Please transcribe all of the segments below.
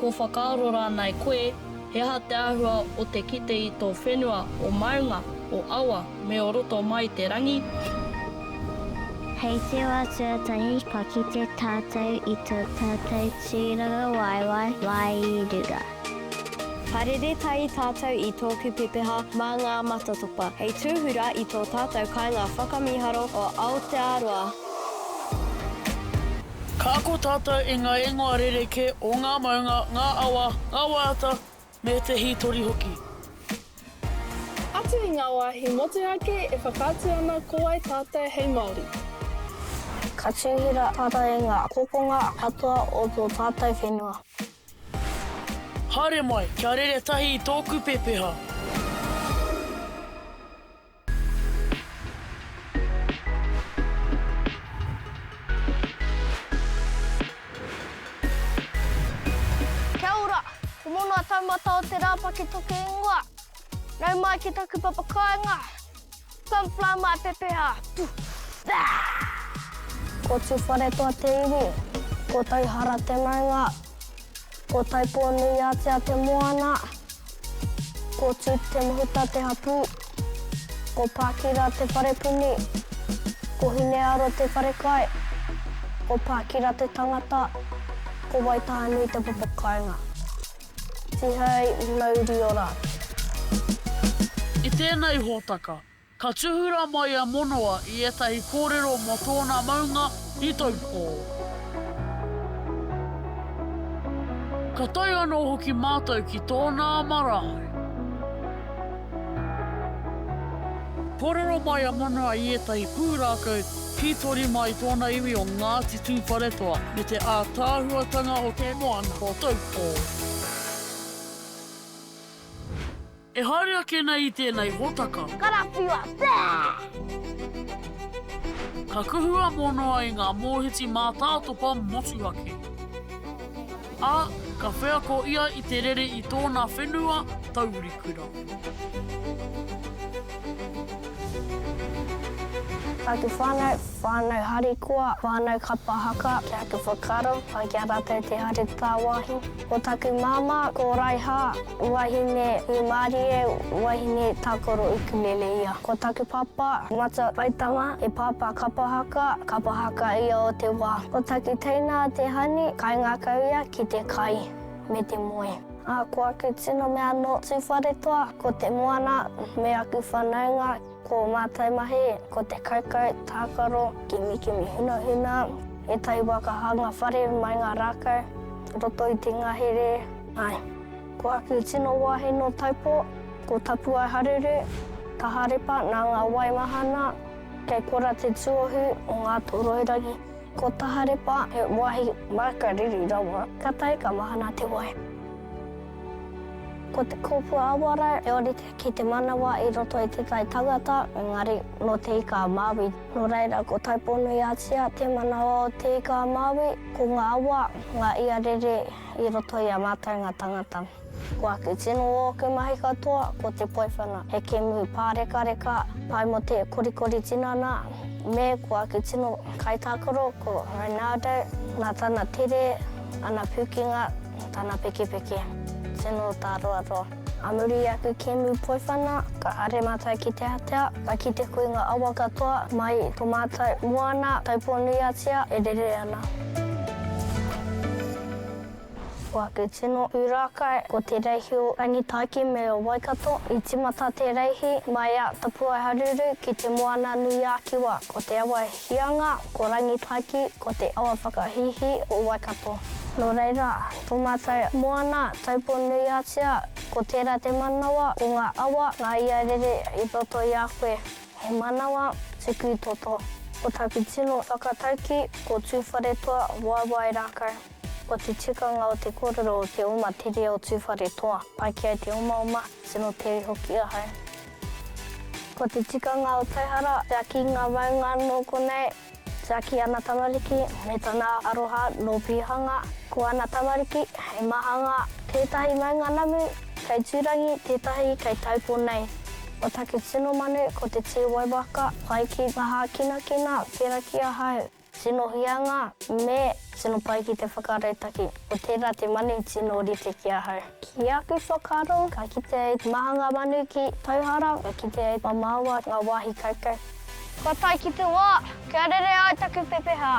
Ko whakaaro rānei koe, he aha te āhua o te kite i tō whenua, o maunga, o awa, me o roto mai i te rangi? Hei te wā tuatahi ka kite tātou i tō tātou tūrangawaewae wairua. Parere tahi tātou i tōku pepeha mā ngā matatopa hei tūhura i tō tātou kāinga whakamīharo o Aotearoa. Ka ako tātou i ngā ingoa rerekē o ngā maunga, ngā awa, ngā waiata, me te hītori hoki. Atu i ngā wāhi motuhake e whakaatu ana ko wai tātou hei Māori. Ka tūhura tātou i ngā kokonga katoa o tō tātou whenua. Haere mai, kia rere tahi i tōku pepeha. Kia ora! Ko Monoa taumata o te rā paketoke ingoa. Nau mai ki taku papa kāinga. Come fly my pepeha! Ko Tuwharetoa te iwi, ko Tauhara te maunga. Ko Taipō-nui-ātea te moana. Ko Tut Te Mahuta te hapū. Ko Pākira te wharepuni. Ko Hinearo te wharekai. Ko Pākira te tangata. Ko Waitahanui te papakāinga. Tihei mauri ora atu. I tēnei hōtaka, Ka tūhura mai a Monoa i ētahi kōrero mō tōna maunga i Taupō. Ka tae anō hoki mātou ki tōnā marae. Kōrero mai a Monoa i ētahi pūrākau hītori mā i tōna iwi o Ngāti Tūwharetoa me te ātaahuatanga o te moana o Taupō. E haere ake nei i tēnei hōtaka. Karawhiua, pēh! Ka kuhu a Monoa i ngā mōhiti mātātopa motuhake. Ā, ka wheako ia i te rere i tōna whenua, Taurikura. Ā te whānau, whānau harikoa, whānau kapa haka, ki aku whakaaro, pai ki a rātou te haere tāwāhi. Ko taku mama ko Raiha, wahine Rumarie, wahine Takoro Ukulele ia. Ko taku papa, Mata Waitama, he papa kapa haka, kapa haka ia o te wa. Ko taku teina a Te Hani, kaingakau ia ki te kai me te moe. A ko aku tino mea no Tuwharetoa, ko te moana me aku whanaunga. Ko ō mātou mahi, ko te kaukau, tākaro, kimikimi hunahuna, ētahi wā ka hanga whare mai ngā rākau, roto i te ngahere, āe, ko aku tino wāhi nō Taupō, ko Tapuaeharuru, Taharepa nā ngā wai mahana, kei korā te tuohu o Ngātoroirangi. Ko Taharepa he wāhi māka riri rawa, kātahi ka mahana te wai. Ko Te Kōpua Awarau, he ōrite. ki te manawa i roto i Te Tai Tangata, engari nō Te Ika-a-Māui. Nō reira, ko Taupō-nui-a-Tia te manawa o Te Ika-a-Māui, ko ngā awa, ngā ia rere i roto i a mātou ngā tangata. Ko aku tino o aku mahi katoa, ko te poiwhana, he kēmu pārekareka, pai mō te korikori tinana, me ko aku tino kaitākaro, ko Ronaldo, nā tana tere, ana pūkenga, tana pekepeke. Tino tāroaroa. A muri i aku kemu poiwhana, ka haere matou ki te atea, ka kite koe nga awa katoa, mai i to matou moana, Taupō-nui-a-Tia, e rere ana. Ko aku tino pūrākau, ko Te Reihi o Rangitāiki me o Waikato. I tīmata Te Reihi mai a Tapuaiharuru ki te Moana-nui-ā-Kiwa, ko Te Awa Hianga, ko Rangipaki, ko te awa whakahīhī o Waikato. Nō reira, tō mātou moana tauponuiatia, ko tērā te manawa o ngā awa, ngā ia rere i roto i a koe. He manawa tuku i toto. Ko taku tino whakataukī, ko Tūwharetoa waewae rākau. Ko te tikanga o te kōrero o te oma tere o Tūwharetoa, pai ki ai te omaoma, tino tere hoki ahau. Ko te tikanga o Taihara, tiaki ngā maunga nō konei, tiaki ana tamariki me tana aroha nō Pīhanga. Ko ana tamariki he mahanga, tētahi maunga namu kei Tūrangi, tētahi kei Taupo nei. Ko taku tino manu ko te tī waiwaka, pai ki ngā hākinakina, pērā ki ahau. Tino huianga, me tino pai ki te whakarautaki. Ko tērā te manu tino rite ki ahau. Ki aku whakaaro, ka kitea e te maha ngā manu ki Tauhara, ka kitea e Mamaoa ngā wāhi kaukau. Kua tae ki te wā, kia rere ai taku pepeha!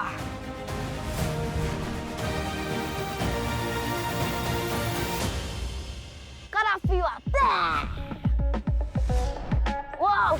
Karawhiua! Baa! Wau!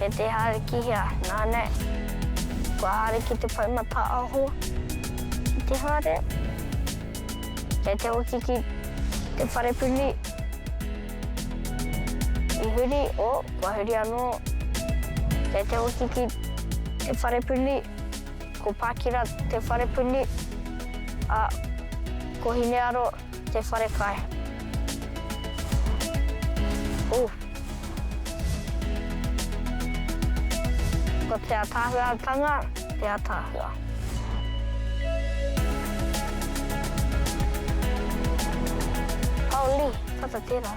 E te hare ki hea? Nā nei. Kua hare ki te pai mataaho i te hare. Kei te hoki ki te wharepuni i huri, oh, kua huri anō. Kei te hoki ki te wharepuni, ko Pakira te wharepuni, a, ko Hinearo. Te wharekai. Ooh. Ko te atahuatanga te atahua. Holy, tata tera.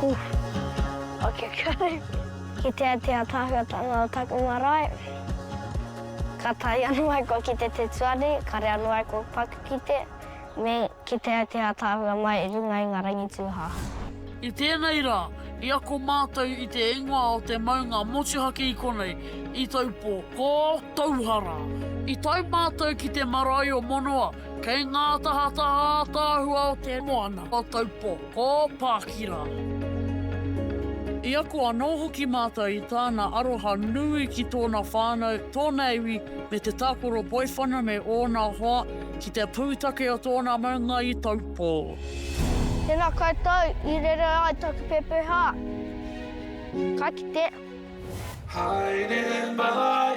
Huh. Ok, kore. Kitea te atahuatanga o taku marae. Ka tae anu ai kua kite te tuari, kare anu ai kua paku kite, me kitea te ataahua mai i runga i nga rangitūhaha. I tēnei rā, i ako mātou i te ingoa o te maunga motuhake i konei, i Taupō, ko Tauhara. I tae mātou ki te marae o Monoa, kei ngā tahataha ataahua o te moana o Taupō. Ko Pākira. I ako anō hoki mātou i tāna aroha nui ki tōna whānau, tōna iwi, me te tākoro poiwhana me ōna hoa ki te pūtake o tōna maunga i Taupō. Tēnā koutou i rere ai taku pepeha. Ka kite. Haere mai.